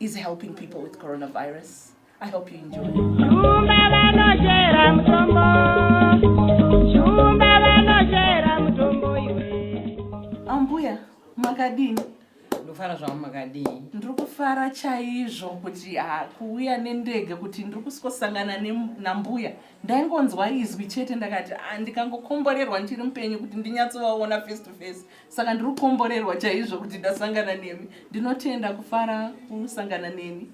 is helping people with coronavirus i hope you enjoy ambuya makadini ndofara zvavo makadii ndiri kufara chaizvo kuti ah, kuuya nendege kuti ndiri kusikosangana nambuya ndaingonzwa izwi chete ndakati ah, ndikangokomborerwa ndiri mupenyu kuti ndinyatsovaona face to face saka ndiri kukomborerwa chaizvo kuti ndasangana nemi ndinotenda kufara kusangana nemi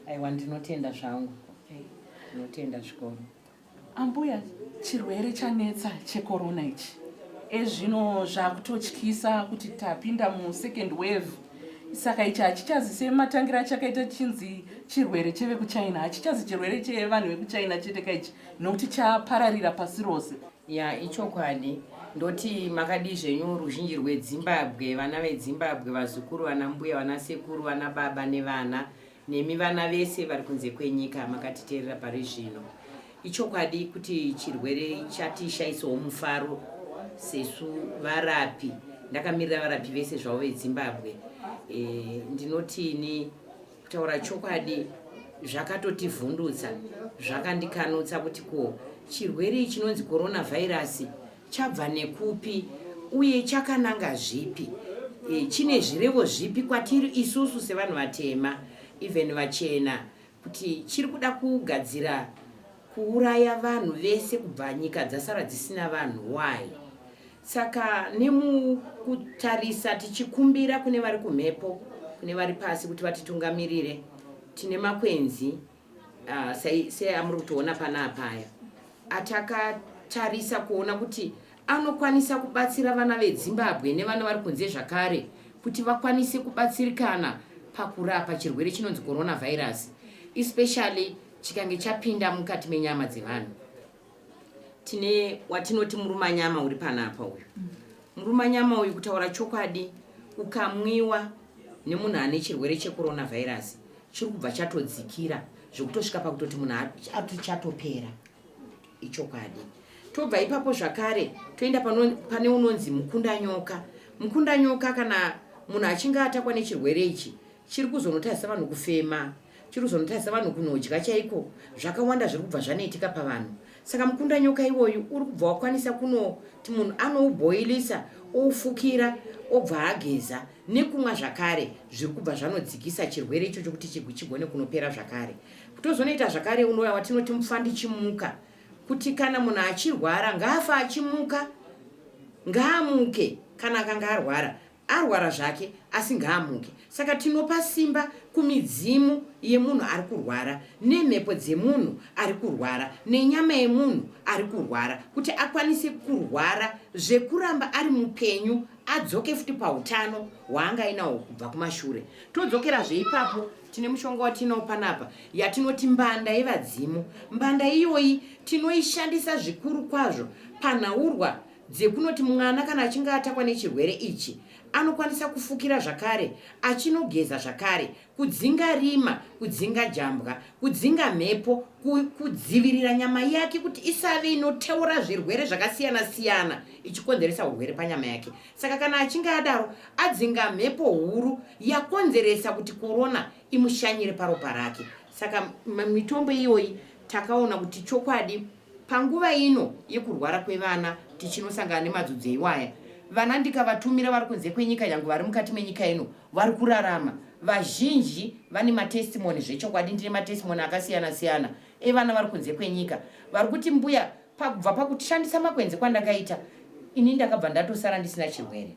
aiwa ndinotenda zvangu ndinotenda zvikoro ambuya chirwere chanetsa chekorona ichi ezvino zvakutotyisa kuti tapinda musecond wave saka ichi hachichazi sematangira achakaita chinzi chirwere chevekuchina hachichazi chirwere chevanhu vekuchina chete ka ichi nokuti chapararira pasi rose Ya ichokwadi ndoti makadii zvenyu ruzhinji rwedzimbabwe vana vedzimbabwe vazukuru vana mbuya vana sekuru vana baba nevana nemi vana vese vari kunze kwenyika makatiteerera pari zvino ichokwadi kuti chirwere chatishaisawo mufaro sesu varapi ndakamirira varapi vese zvavo vedzimbabwe e, ndinotini Kutaura chokwadi zvakatotivhundutsa zvakandikanutsa kuti ko chirwere chinonzi coronavirus chabva nekupi uye chakananga zvipi e, chine zvirevo zvipi kwatiri isusu sevanhu vatema even vachena kuti chiri kuda kugadzira kuuraya vanhu vese kubva nyika dzasara dzisina vanhu why Saka nemukutarisa tichikumbira kune vari kumhepo, kune vari pasi kuti vatitungamirire, tine makwenzi uh, seamuri kutoona panapa aya atakatarisa kuona kuti anokwanisa kubatsira vana vedzimbabwe nevana vari kunze zvakare kuti vakwanise kubatsirikana pakurapa chirwere chinonzi coronavirus especially chikange chapinda mukati menyama dzevanhu tine watinoti murumanyama uri panapa uyu murumanyama uyu kutaura chokwadi ukamwiwa nemunhu ane chirwere checoronavirus chiri kubva chatodzikira zvekutosvika pakutoti munhu ati chatopera ichokwadi tobva ipapo zvakare toenda pane unonzi mukundanyoka mukundanyoka kana munhu achinge atakwa nechirwere ichi Chiri kuzonotadzisa vanhu kufema, chiri kuzonotadzisa vanhu kunodya chaiko, zvakawanda zviri kubva zvanoitika pavanhu. Saka mukundanyoka iwoyu uri kubva wakwanisa kunoti munhu anoubhoilisa oufukira obva ageza nekumwa zvakare zviri kubva zvanodzikisa chirwere ichocho kuti chigone kunopera zvakare. Kutozonoita zvakare unouya watinoti mupfandichimuka kuti kana munhu achirwara ngaafa achimuka ngaamuke kana akanga arwara Arwara zvake asi ngaamuke. Saka tinopa simba kumidzimu yemunhu ari kurwara, nemhepo dzemunhu ari kurwara, nenyama yemunhu ari kurwara kuti akwanise kurwara zvekuramba ari mupenyu adzoke futi pautano hwaanga ainawo kubva kumashure. Todzokerazve ipapo tine mushonga watinawo panapa yatinoti mbanda yevadzimu. Mbanda iyoyi tinoishandisa zvikuru kwazvo panhaurwa dzekunoti mwana kana achinge atakwa nechirwere ichi anokwanisa kufukira zvakare achinogeza zvakare kudzinga rima kudzinga jambwa kudzinga mhepo kudzivirira nyama yake kuti isave inoteura zvirwere zvakasiyana siyana ichikonzeresa urwere panyama yake saka kana achinge adaro adzinga mhepo huru yakonzeresa kuti korona imushanyire paropa rake saka mitombo iyoyi takaona kuti chokwadi Panguva ino yekurwara kwevana tichinosangana nemadzodzo iwaya, vana ndikavatumira vari kunze kwenyika nyange vari mukati menyika ino vari kurarama. Vazhinji vane matestimony zvechokwadi, ndine matestimony akasiyana siyana evana vari kunze kwenyika vari kuti mbuya pakubva pakushandisa makwenzi kwandakaita ini ndakabva ndatosara ndisina chirwere.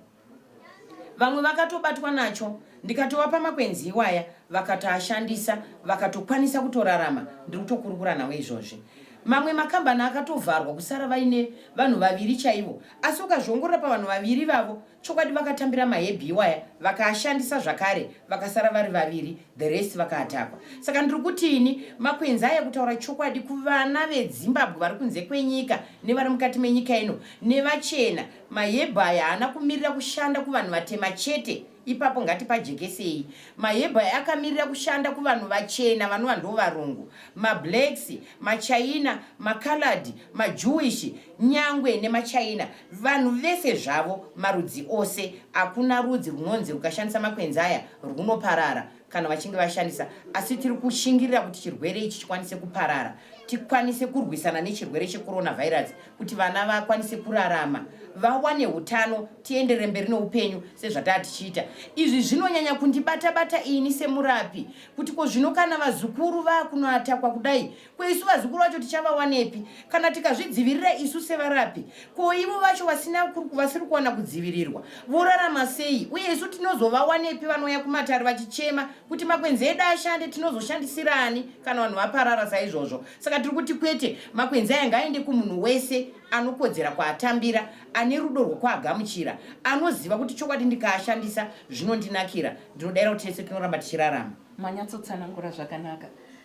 vamwe vakatobatwa nacho ndikatovapa makwenzi iwaya vakatoashandisa vakatokwanisa kutorarama ndiri kutokurukura nawo izvozvi mamwe makambani akatovharwa kusara vaine vanhu vaviri chaivo asi ukazviongorora pavanhu vaviri vavo chokwadi vakatambira mahebhi iwaya vakaashandisa zvakare vakasara vari vaviri the rest vakaatakwa saka ndiri kuti ini makwenzi aya kutaura chokwadi kuvana vedzimbabwe vari kunze kwenyika nevari mukati menyika ino nevachena Mahebhai haana kumirira kushanda kuvanhu vatema chete, ipapo ngatipajekesei. Mahebhai akamirira kushanda kuvanhu vachena vanova ndo varungu, mablacks, machaina, macoloured, majewish nyangwe nemachaina. Vanhu vese zvavo, marudzi ose. Hakuna rudzi runonzi rukashandisa makwenzi aya rwunoparara. kana vachinge vashandisa asi tiri kushingirira kuti chirwere ichi chikwanise kuparara tikwanise kurwisana nechirwere checoronavirus kuti vana vakwanise kurarama vawane utano tiendere mberi neupenyu sezvataa tichiita izvi zvinonyanya kundibata bata ini semurapi kuti ko zvino kana vazukuru vakunoatakwa kudai Ko isu vazukuru vacho tichavawanepi kana tikazvidzivirira isu sevarapi? Ko ivo vacho vasina vasiri kuwana kudzivirirwa vorarama sei? Uye isu tinozovawanepi vanouya kumatare vachichema kuti makwenzi edu ashande? Tinozoshandisirani kana vanhu vaparara saizvozvo? Saka tiri kuti kwete, makwenzi aya ngaaende kumunhu wese anokodzera kwaatambira, ane rudo rwokwaagamuchira, anoziva kuti chokwadi ndikaashandisa zvinondinakira. Ndinodaira kuti tese tinoramba tichirarama. Manyatsotsanangura zvakanaka.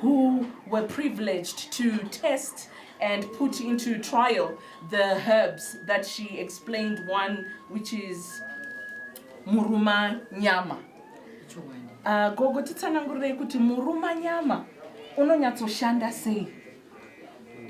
who were privileged to test and put into trial the herbs that she explained one which is muruma nyama uh, gogo titsanangurirei kuti muruma nyama unonyatsoshanda sei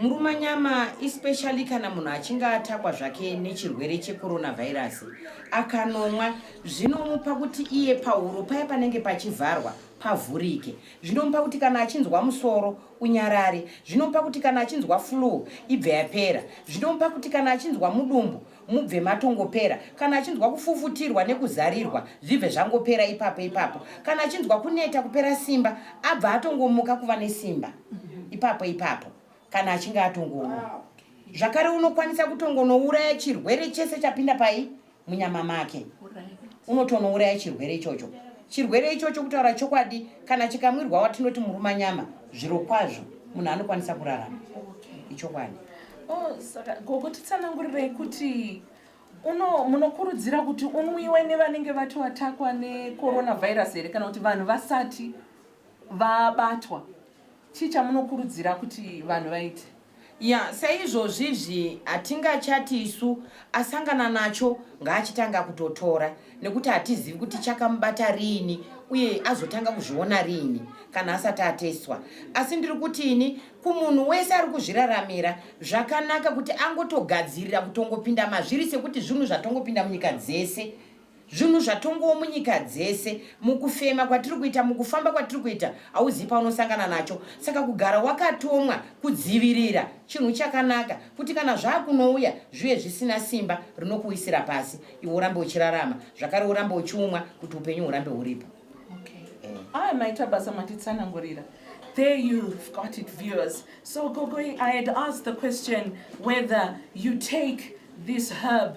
muruma nyama especially kana munhu achinge atakwa zvake nechirwere checoronavirus akanomwa zvinomupa kuti iye pahuro paye panenge pachivharwa pavhurike Zvinomupa kuti kana achinzwa musoro unyarare. Zvinomupa kuti kana achinzwa flue ibve yapera. Zvinomupa kuti kana achinzwa mudumbu mubve matongopera. Kana achinzwa kufufutirwa nekuzarirwa zvibve zvangopera ipapo ipapo. Kana achinzwa kuneta kupera simba abva atongomuka kuva nesimba ipapo ipapo kana achinge atongomwa. Zvakare unokwanisa kutongonouraya chirwere chese chapinda pai munyama make unotonouraya chirwere ichocho chirwere ichocho kutaura chokwadi kana chikamwirwa watinoti muruma nyama zviro kwazvo munhu anokwanisa kurarama ichokwadi oh, gogo titsanangurirei kuti uno munokurudzira kuti unwiwe nevanenge vati watakwa necoronavirus here kana kuti vanhu vasati vabatwa chii chamunokurudzira kuti vanhu vaite Yeah saizvozvi izvi hatingachati isu asangana nacho ngaachitanga kutotora nekuti hatizivi kuti chakamubata riini uye azotanga kuzviona riini kana asati atestwa asi ndiri kuti ini kumunhu wese ari kuzviraramira zvakanaka kuti angotogadzirira kutongopinda mazviri sekuti zvinhu zvatongopinda munyika dzese Zvinhu zvatongowo munyika dzese, mukufema kwatiri kuita, mukufamba kwatiri kuita, hauzivi paunosangana nacho. Saka kugara wakatomwa kudzivirira chinhu chakanaka kuti kana zvakunouya zviuye zvisina simba rinokuwisira pasi, iwe urambe uchirarama zvakare urambe uchiumwa kuti upenyu hurambe huripo. Haa maita basa matitsanangurira. There you've got it viewers. So Gogoi, I had asked the question whether you take this herb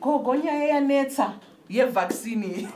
Gogo nyaya yanetsa yevaccine iyi.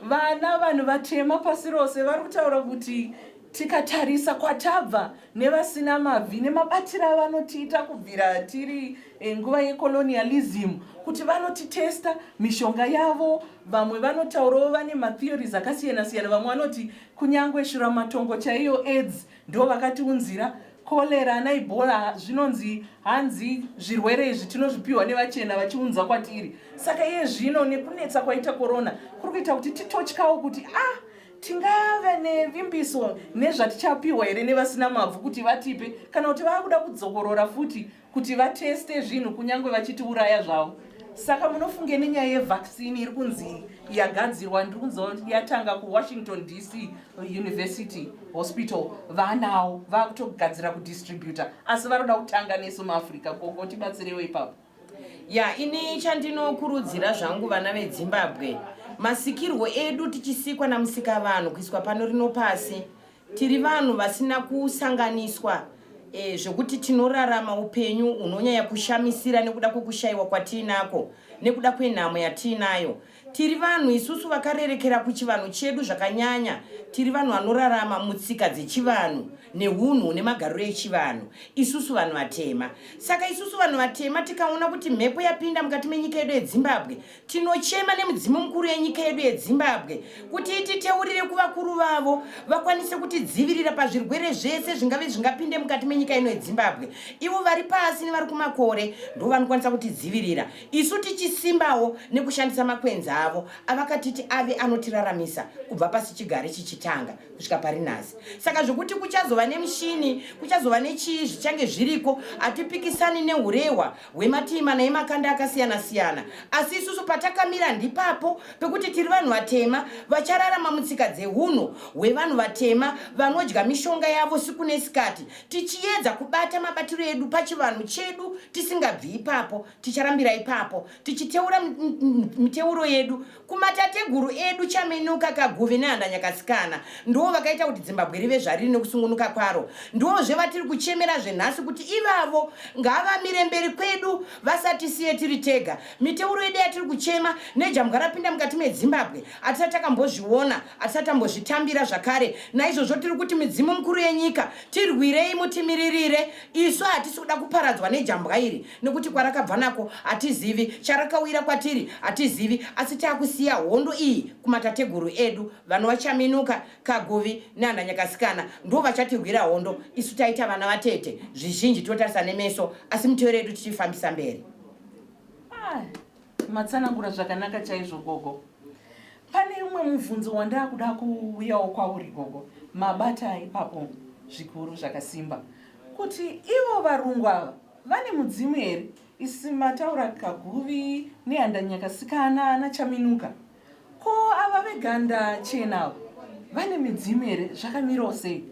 Vana vanhu vatema pasi rose vari kutaura kuti tikatarisa kwatabva nevasina mabvi nemabatiro avanotiita kubvira tiri eh, nguva yecolonialism kuti vanotitesta mishonga yavo vamwe vanotaurawo vane matheories akasiyana siyana vamwe vanoti kunyange shuramatongo chaiyo aids Ndo vakatiunzira cholera ana ibola zvinonzi hanzi zvirwere izvi tinozvipiwa nevachena vachiunza kwatiri saka iye zvino nekunetsa kwaita korona kuri kuita kuti titotyawo kuti ah tingave nevimbiso nezvatichapiwa here nevasina mabvu kuti vatipe kana kuti vaakuda kudzokorora futi kuti vateste zvinhu kunyange vachitiuraya zvavo saka munofunge nenyaya yevaccine iri kunzi yagadzirwa ndiri kunzwa kuti yatanga kuwashington dc university hospital vanawo vakutogadzira kudistributa asi varoda kutanga nesu muafrica koko tibatsirewo ipapo ya ini chandinokurudzira zvangu vana vedzimbabwe masikirwo edu tichisikwa namusika vanhu kuiswa pano rino pasi Tiri vanhu vasina kusanganiswa e, zvokuti tinorarama upenyu hunonyanya kushamisira nekuda kwekushayiwa kwatiinako nekuda kwenhamo yatiinayo. Tiri vanhu isusu vakarerekera kuchivanhu chedu zvakanyanya. Tiri vanhu vanorarama mutsika dzechivanhu neunhu hune magariro echivanhu, isusu vanhu vatema. Saka isusu vanhu vatema tikaona kuti mhepo yapinda mukati menyika yedu yeZimbabwe, Tinochema nemudzimu mukuru yenyika yedu yeZimbabwe kuti ititeurire kuvakuru vavo vakwanise kutidzivirira pazvirwere zvese zvingave zvingapinde mukati menyika ino yeZimbabwe. Ivo vari pasi nevari kumakore ndivo vanokwanisa kutidzivirira isu tichisimbawo nekushandisa makwenzi avo avakatiti ave anotiraramisa kubva pasi chigare chichitanga kusvika pari nhasi. Saka zvekuti kuchazova nemushini, kuchazova nechii zvichange zviriko, hatipikisani nehurehwa hwematii mana emakanda akasiyana siyana asi isusu patakamira ndipapo pekuti tiri vanhu vatema vachararama mutsika dzehunhu hwevanhu vatema vanodya mishonga yavo siku nesikati tichiyedza kubata mabatiro edu pachivanhu chedu tisingabvi ipapo ticharambira ipapo tichiteura miteuro yedu Kumatateguru edu Chaminuka, Kaguvi neHandanyakasikana ndivo vakaita kuti Dzimbabwe rive zvariri nekusungunuka kwaro. Ndivozve vatiri kuchemera zvenhasi kuti ivavo ngavamire mberi kwedu vasatisiye tiri tega. Miteuro yedu yatiri kuchema nejambwa rapinda mukati meDzimbabwe hatisati takambozviona, hatisati tambozvitambira zvakare. Naizvozvo tiri kuti midzimu mikuru yenyika tirwirei mutimiririre. Isu hatisi kuda kuparadzwa nejambwa iri. nekuti kwarakabva nako hatizivi, charakauyira kwatiri hatizivi, asi takusiya hondo iyi kumatateguru edu, vanova Chaminuka, Kaguvi nana Nyakasikana ndivo vachatirwira hondo, isu taita vana vatete zvizhinji tinotarisa nemeso asi miteyo redu tichifambisa mberi. Ah, matsanangura zvakanaka chaizvo gogo. Pane umwe mubvunzo wandakuda kuuyawo kwauri gogo, mabata ipapo zvikuru zvakasimba kuti ivo varungu ava Vane mudzimu here isi mataura kaguvi nehandanyakasikana anachaminuka ko ava veganda chena vane midzimu here zvakamirawo sei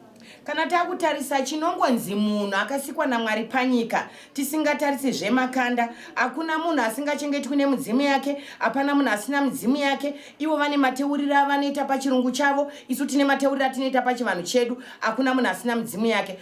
kana takutarisa chinongonzi munhu akasikwa namwari panyika tisingatarise zvemakanda hakuna munhu asingachengetwi nemudzimu yake hapana munhu asina midzimu yake ivo vane mateuriro avanoita pachirungu chavo isu tine mateuriro atinoita pachivanhu chedu hakuna munhu asina midzimu yake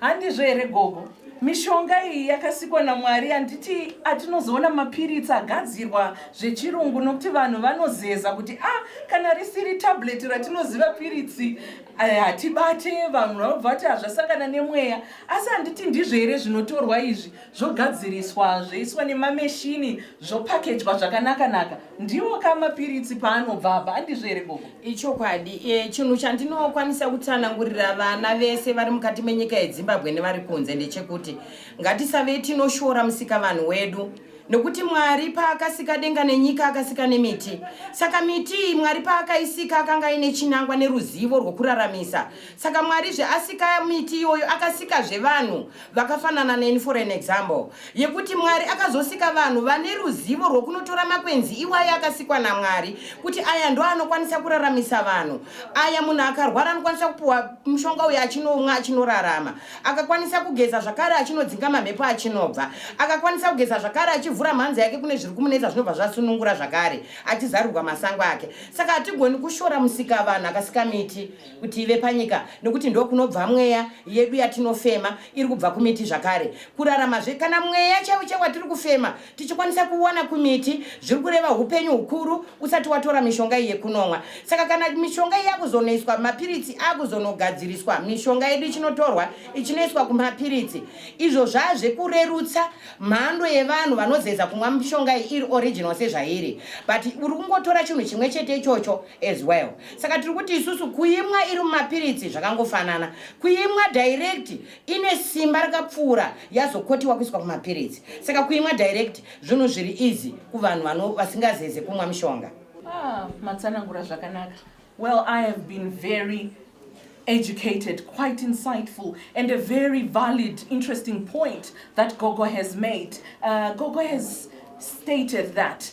Handizvo here gogo? Mishonga iyi yakasikwa naMwari handiti atinozoona mapiritsi agadzirwa zvechirungu nokuti vanhu vanozeza kuti ah kana risiri tablet ratinoziva piritsi eh, hatibate vanhu vanobva vati hazvasangana nemweya asi handiti ndizvo here zvinotorwa izvi zvogadziriswa zvoiswa nemameshini zvopakejwa zvakanakanaka ndiwo ka mapiritsi paanobva apa andizvo here gogo ichokwadi e, chinhu chandinokwanisa kutsanangurira vana vese vari mukati menyika yezimbabwe nevari kunze ndechekuti ngatisave tinoshora musika vanhu wedu nokuti mwari paakasika denga nenyika akasika nemiti saka miti iyi mwari paakaisika akanga aine chinangwa neruzivo rwokuraramisa saka mwarizve asika miti iyoyo akasikazve vanhu vakafanana neni for an example yekuti mwari akazosika vanhu vane ruzivo rwokunotora makwenzi iwayo akasikwa namwari kuti aya ndo anokwanisa kuraramisa vanhu aya munhu akarwara anokwanisa kupiwa mushonga uyo achinomwa achinorarama akakwanisa kugeza zvakare achinodzinga mamhepo achinobva akakwanisa kugeza zvakare achivhura mhanzi yake kune zviri kumunetsa zvinobva zvasunungura zvakare achizarirwa masango ake saka hatigoni kushora musika vanhu akasika miti kuti ive panyika nokuti ndokunobva mweya yedu yatinofema iri kubva kumiti zvakare kuraramazve kana mweya chaiwo chaiwo watiri kufema tichikwanisa kuona kumiti zviri kureva upenyu hukuru usati watora mishonga iyi yekunomwa saka kana mishonga iyi yakuzonoiswa mapiritsi akuzonogadziriswa mishonga yedu ichinotorwa ichinoiswa kumapiritsi izvo zvazvekurerutsa mhando yevanhu vanozeza kumwa mishonga iyi iri original sezvairi but uri kungotora chinhu chimwe chete ichocho as well saka tiri kuti isusu kuimwa iri mumapiritsi zvakangofanana kuimwa direct ine simba rakapfuura yazokotiwa kuiswa kumapiritsi saka kuimwa direct zvinhu zviri easy kuvanhu vano vasingazeze kumwa mishonga ah, matsanangura zvakanaka well i have been very educated, quite insightful, and a very valid, interesting point that Gogo has made. Uh, Gogo has stated that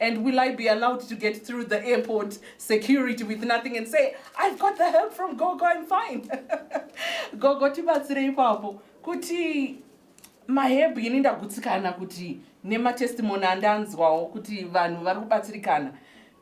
And will I be allowed to get through the airport security with nothing and say, I've got the help from Gogo, I'm fine. Gogo, tibatsire ipapo. Kuti mahebhu ini ndagutsikana kuti nematestimony andanzwawo kuti vanhu vari kubatsirikana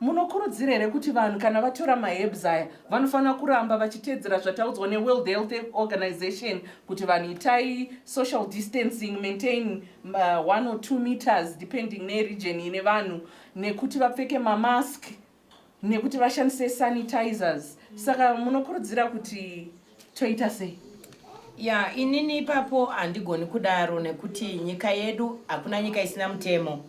munokurudzira here kuti vanhu kana vatora mahebs aya vanofanira kuramba vachiteedzera zvataudzwa neworld health organization kuti vanhu itai social distancing maintain uh, one or two meters depending neregion ine vanhu nekuti vapfeke mamask nekuti vashandise sanitizers saka munokurudzira kuti toita sei ya inini ipapo handigoni kudaro nekuti nyika yedu hakuna nyika isina mutemo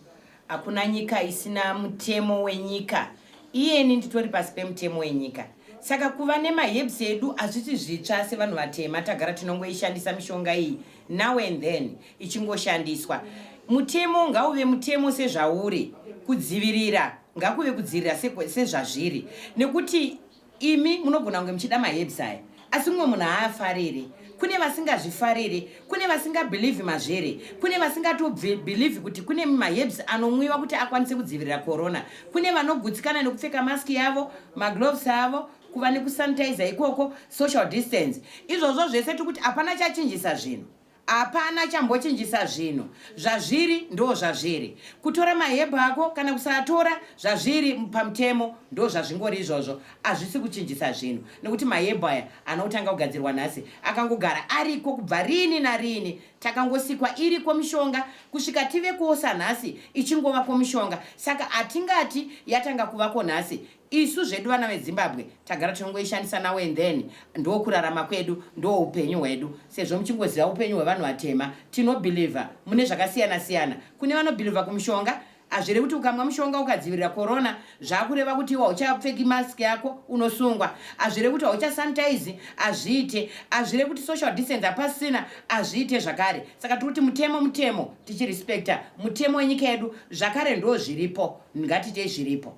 Hakuna nyika isina mutemo wenyika. Iyeni nditori pasi pemutemo wenyika. Saka kuva nemaherbs edu hazvisi zvitsva sevanhu vatema tagara tinongoishandisa mishonga iyi now and then ichingoshandiswa. Mutemo ngauve mutemo sezvauri, kudzivirira ngakuve kudzivirira sezvazviri nekuti Imi munogona kunge muchida maherbs aya asi mumwe munhu haafare here? Kune vasingazvifare here? Kune vasingabhilivhi mazvere? Kune vasingatobhilivhi kuti kune maherbs anomwiwa kuti akwanise kudzivirira corona? Kune vanogutsikana nekupfeka mask yavo, magloves avo, kuva nekusanitizer ikoko, social distance. Izvozvo zvese tiri kuti hapana chachinjisa zvinhu. Hapana chambochinjisa zvinhu. Zvazviri ndozvazviri. Kutora mahebhu ako kana kusaatora zvazviri pamutemo ndozvazvingori izvozvo. Hazvisi kuchinjisa zvinhu. Nekuti mahebhu aya anotanga kugadzirwa nhasi. Akangogara ariko kubva riini nariini. Takangosikwa iriko mishonga kusvika tive kuosa nhasi ichingova komishonga. Saka hatingati yatanga kuvako nhasi. Isu zvedu vana veZimbabwe tagara tinongoishandisa now and then ndokurarama kwedu ndoupenyu hwedu sezvo muchingoziva upenyu hwevanhu vatema tinobhilivha mune zvakasiyana siyana kune vanobhilivha kumushonga hazvirevi kuti ukamwa mushonga ukadzivirira korona zvakureva kuti iwe hauchapfeki mask yako unosungwa hazvirevi kuti hauchasanitize hazviite hazvirevi kuti social distance hapasina hazviite zvakare saka tiri kuti mutemo mutemo tichirespecta mutemo wenyika yedu zvakare ndo zviripo ngatiitei zviripo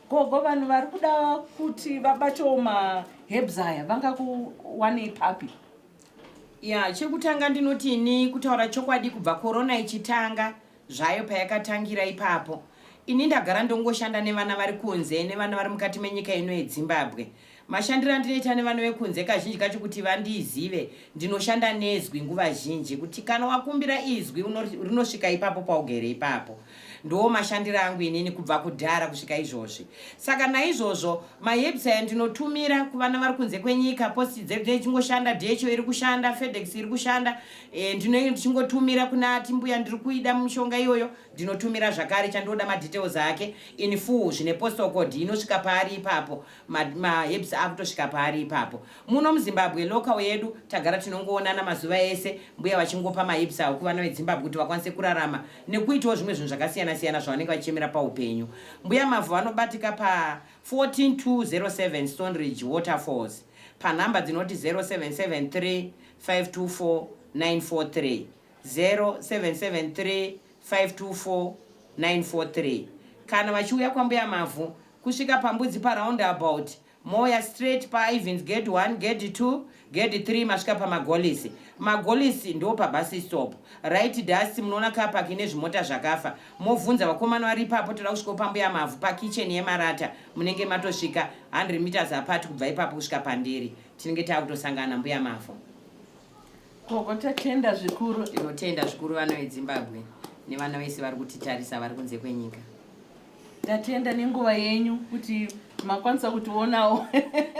Gogo vanhu vari kuda kuti vabatewo maherbs aya vangakuwanei papi? Ya, chekutanga ndinoti ini kutaura chokwadi kubva corona ichitanga zvayo payakatangira ipapo ini ndagara ndongoshanda nevana vari kunze nevana vari mukati menyika ino yeDzimbabwe. Mashandiro andinoita nevana vekunze kazhinji kacho kuti vandizive, ndinoshanda nezwi nguva zhinji kuti kana wakumbira izwi rinosvika ipapo paugere ipapo. Ndiwo mashandiro angu inini kubva kudhara kusvika izvozvi. Saka naizvozvo maherbs aya ndinotumira kuvana vari kunze kwenyika, posti dzedu dzinenge dzichingoshanda, DHL iri kushanda, FedEx iri kushanda, e, ndinenge ndichingotumira kuna ati mbuya ndiri kuida mishonga iyoyo, ndinotumira zvakare chandinoda madetails ake in full zvine postal code inosvika paari ipapo. maherbs ma akutosvika paari ipapo muno muzimbabwe local yedu tagara tinongoonana mazuva ese mbuya vachingopa maherbs awo kuvana vedzimbabwe kuti vakwanise kurarama nekuitawo zvimwe zvinhu zvakasiyana siyana zvavanenge vachichemera paupenyu mbuya mavhu vanobatika pa 14207 stone ridge waterfalls panhamba dzinoti 0773 524 943 0773 524 943 kana vachiuya kwambuya mavhu Kusvika paMbudzi paroundabout, mouya straight paIvens Gate 1, Gate 2, Gate 3 masvika pamaGolisi. MaGolisi ndopaBusstop. Right dust munoona car park ine zvimota zvakafa. Mobvunza vakomana vari ipapo toda kusvikawo paMbuya Mavhu pakitchen yemarata. Munenge matosvika 100 meters apart kubva ipapo kusvika pandiri. Tinenge takutosangana naMbuya Mavhu. Gogo tatenda zvikuru. Tinotenda zvikuru vana veDzimbabwe nevana vese vari kutitarisa vari kunze kwenyika. Tatenda nenguva yenyu kuti makwanisa kutionawo.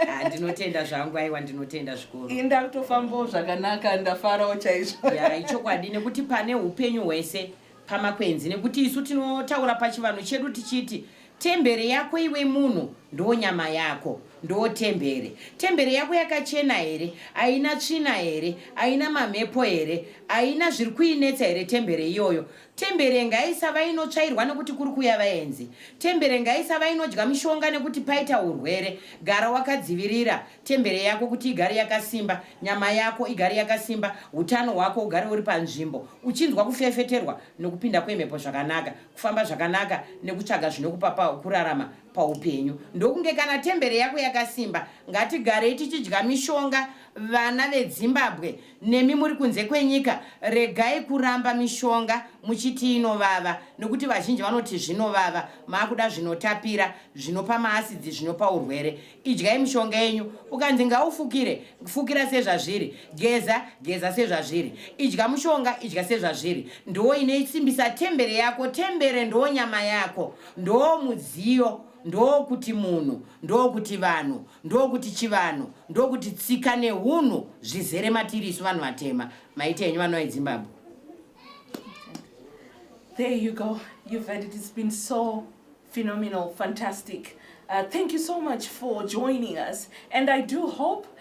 Ah, ndinotenda zvangu aiwa ndinotenda zvikuru. Ini ndakutofambawo zvakanaka ndafarawo chaizvo. Ya ichokwadi nekuti pane upenyu hwese pamakwenzi nekuti isu tinotaura pachivanhu chedu tichiti tembere yako iwe munhu ndo nyama yako ndo tembere. Tembere yako yakachena here? Aina tsvina here? Aina mamhepo here? Aina zviri kuinetsa here tembere iyoyo? Tembere ngaisava inotsvairwa nekuti kuri kuuya vaenzi. Tembere ngaisava inodya mishonga nekuti paita urwere. Gara wakadzivirira tembere yako kuti igare yakasimba, nyama yako igare yakasimba, utano hwako ugare uri panzvimbo, uchinzwa kufefeterwa nekupinda kwemhepo zvakanaka, kufamba zvakanaka nekutsvaga zvinokupa pa kurarama paupenyu. Ndokunge kana tembere yako yakasimba. Ngatigarei tichidya mishonga vana veDzimbabwe. Nemi muri kunze kwenyika regai kuramba mishonga muchiti inovava nokuti vazhinji vanoti zvinovava maakuda zvinotapira zvinopa maasidzi zvinopa urwere. Idyai mishonga yenyu ukanzi ngaufukire fukira sezvazviri geza geza sezvazviri idya mushonga idya sezvazviri ndoo inoisimbisa tembere yako tembere ndoo nyama yako ndoo mudziyo Ndokuti munhu, ndokuti vanhu, ndokuti chivanhu, ndokuti tsika nehunhu zvizere matiri isu vanhu vatema. Maiti henyu vana veZimbabwe. There you go. You've heard it. It's been so phenomenal, fantastic. Uh, thank you so much for joining us. And I do hope